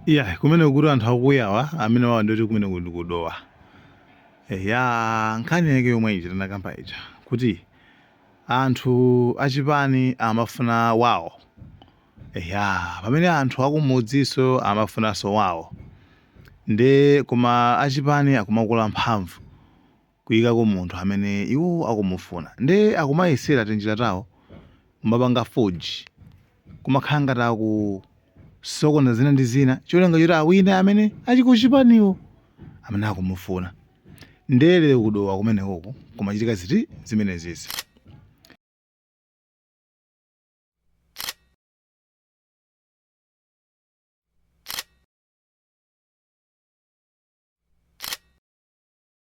Iyayi, kumeneko kuti anthu akuyawa amene wawa ndi oti kumeneko ndi ku Dowa. Eya, nkhani yake yomwe ija tinakamba ija kuti anthu achipani amafuna wawo. Eya, pamene anthu akumudzinso amafunanso wawo. Nde koma achipani akumakula mphamvu. kuikako munthu amene iwo akumufuna nde akumayesera tinjira tawo kumapanga forge kumakhala ngati akusokoneza zina ndi zina cholinga choti awine amene ali ku chipaniwo amene akumufuna nde lero ku Dowa kumenekuku kumachitika zinthu zimenezizi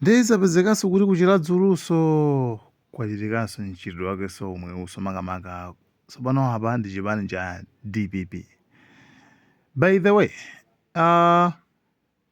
nde zapezekanso kuti ku Chiradzulunso kwachitikanso mchitidwe wakenso omweunso makamaka tsopano apa ndi chipani cha dpp by the way uh,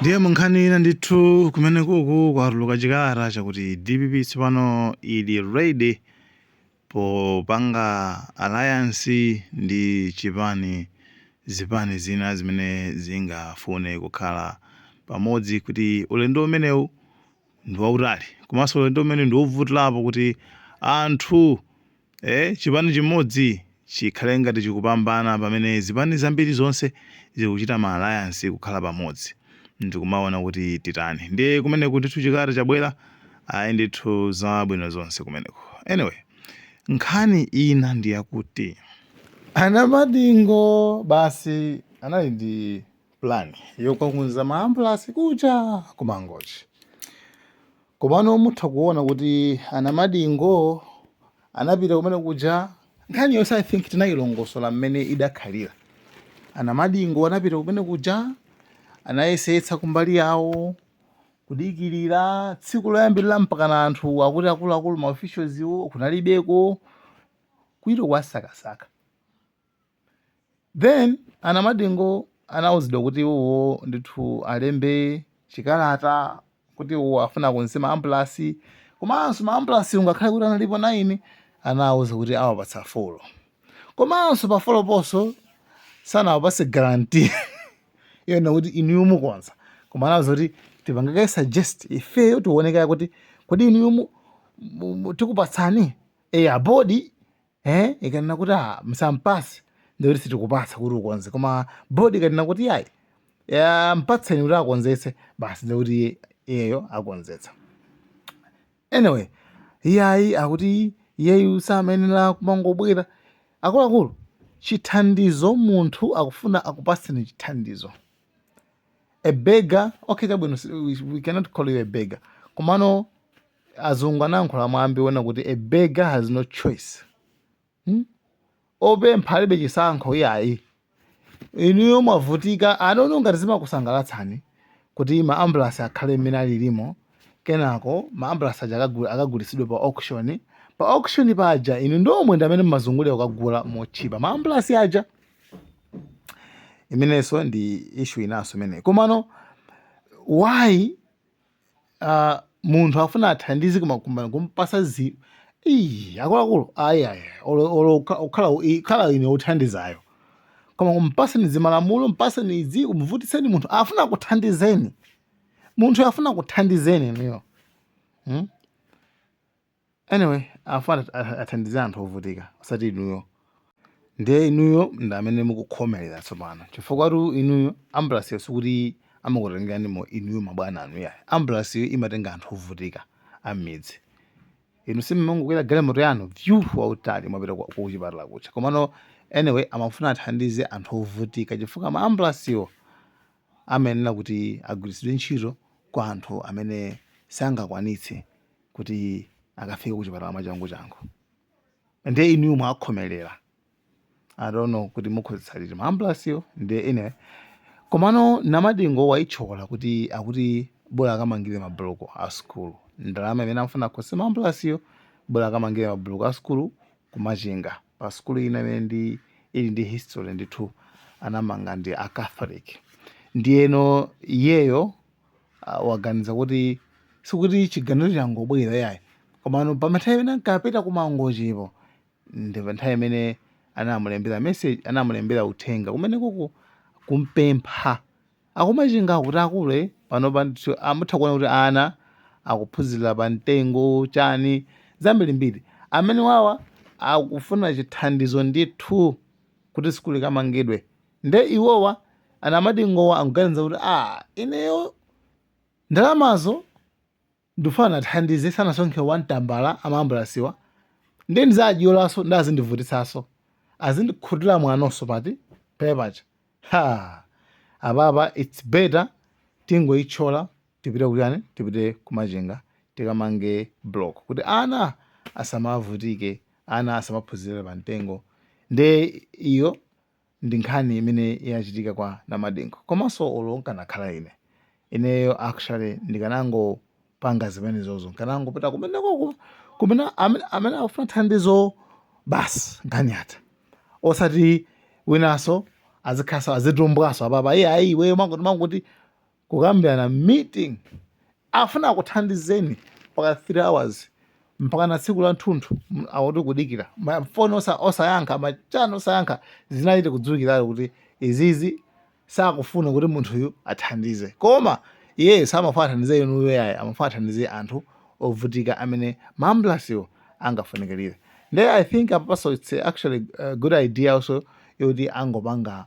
ndiye munkhani ina ndithu kumenekuku kwatuluka chikalata chakuti dpp tsopano ili ready popanga alliance ndi chipani zipani zina zimene zingafune kukhala pamodzi kuti ulendo umenewu ndi wautali komanso ulendo umenewu ndi wovutirapo kuti anthu Eee chipani chimodzi chikhale ngati chikupambana pamene zipani zambiri zonse zikuchita ma alliance kukhala pamodzi ndikumaona kuti titani ndiye kumeneku ndithu chikalata chabwera ayi ndithu zabwino zonse kumeneko anyway nkhani ina ndiyakuti a Namadingo basi anali ndi plan yokakonza ma ambulance kuja ku Mangochi. Komano mutha kuona kuti a Namadingo anapita kumenekuja nkhani yonse I think tinayilongosola mmene idakhalira. A Namadingo anapita kumenekuja anayesetsa kumbali yawo kudikirira tsiku loyambirira mpakana anthu akuti akuluakulu ma officials wo kunalibeko kuito kuwasakasaka then a Namadingo anauzidwa kuti iwowo ndithu alembe chikalata kuti iwowo afuna akonze ma ambulansi komanso ma ambulansi ungakhale kuti analipo 9 anawauza kuti awapatsa 4 komanso pa 4 ponso sanawapatse guarantee yona kuti inuyo mukonza koma anawauza kuti tipangake suggest ifeyo tiwone kaye kuti kodi inuyo mu- mu- mu- tikupatsani eya bodi eh ikanena kuti ah msampasi ndiye kuti sitikupasa kuti ukonze koma board ikanena kuti iyayi mpatseni kuti akonzetse basi ndiye kuti iyeyo akonzetsa anyway iyayi akuti iyeyu samayenera kumangobwera akuluakulu chithandizo munthu akufuna akupaseni chithandizo a beggar okay chabwino si- we, we cannot call you a beggar komano azungu anayankhula mwambi wonena kuti a beggar has no choice hmm? opempha alibe chisankho iyayi inuyo mwavutika ndi inuyo ngati zimakusangalatsani kuti ma ambulance akhale mmene alilimo kenako ma ambulance aja akagu- akagulitsidwe pa auction pa auction paja inu nomwe ndi amene mmazungulira kukagula motchipa ma ambulance aja imenenso ndi issue inanso imeneyi komano why uh, munthu afuna athandize koma kumamupasa zi Ii, akuluakulu ayi ayi olo- olo ukha- ukhala u- i- khala ine uthandizayo koma kumpaseni zimalamulo mpaseni izi kumuvutitsa munthu afuna kuthandizeni munthu afuna kuthandizeni inuyo hmm? Anyway, afuna athandize anthu ovutika osati inuyo. Ndiye inuyo ndi amene mukukhomerera tsopano chifukwatu inuyo ambulance yo sikuti amakutengeranimo inuyo mabwana anu yayi. Ambulance yo imatenga anthu ovutika am'midzi. Inu simumangokwera galimoto yanu vyu wautali mwapita kwa- kuchipatala kucha. Komano anyway amafuna athandize anthu ovutika chifukwa ma ambulance wo amayenera kuti agwiritsidwe ntchito kwa anthu amene sangakwanitse kuti akafike kuchipatala mwachangu changu ndiye inuyo mwakhomelera i don't know kuti mukonzetsa liti maambulasiyo ndiye anyway komano namadingo waitchola kuti akuti bola akamangire mabuloko a sukulu ndalama imene amafuna akonze maambulasiyo bola akamangire mabuloko a sukulu kumachinga pa sukulu ina imene ili ndi history ndithu anamanga ndi a catholic ndiyeno iyeyo ah, waganiza kuti sikuti chiganizo changobwera yayi komano pa nthawi imene ankapita kumangochipo ndi pa nthawi imene anamulembera message anamulembera uthenga kumene kuku kumpempha akumachinga kuti akulu panopa ndithu mutha kuona kuti ana akuphunzira pa mtengo chani zambirimbiri amene wawa akufuna chithandizo ndithu kuti sukulu ikamangidwe Nde iwowa anamadingowa akuganiza kuti aah ineyo ndalamazo ndikufuna ndithandize sanasonkhe one tambala a maambulasiwa nde ndizadyolanso nde azindivutitsanso azindikhutila mwanonso pati pepapaja haa apapa its better tingoitchola tipite kutani tipite kumachinga tikamange block kuti ana asamavutike ana asamaphunzirire pamtengo nde iyo ndi nkhani imene yachitika kwa Namadingo komanso olo nkanakhala ine, ineyo actually ndikanangopanga zimenezozo, nkanangopita kumenekoko kumene amene, amene akufuna thandizo basi nkhani yatha. Osati winanso azikhalanso azitumbwanso apapa iye ayi iweyo mangoti mangoti kukambirana meeting afuna akuthandizeni mpaka 3 hours mpaka na tsiku la nthunthu akuti kudikira mafoni osa, osayankha machano osayankha zinachita kudziwikiratu kuti izizi sakufuna kuti munthuyu athandize koma iyeyo samafuna athandize inuyo yayi amafuna athandize anthu ovutika amene maambulasiwo angafunikirire nde i think apanso its actually a good idea also yoti angopanga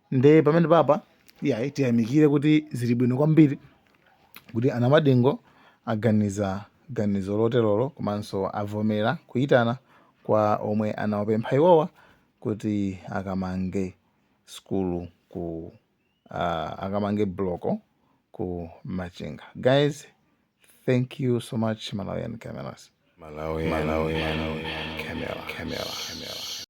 nde pamenepapa iyayi tiyamikire kuti zili bwino kwambiri kuti anamadingo aganiza ganizo loterolo komanso avomera kuyitana kwa omwe anawapempha iwowa kuti akamange skulu ku uh, akamange bloko ku machinga guys thank you so much malawian cameras Malawian Camera.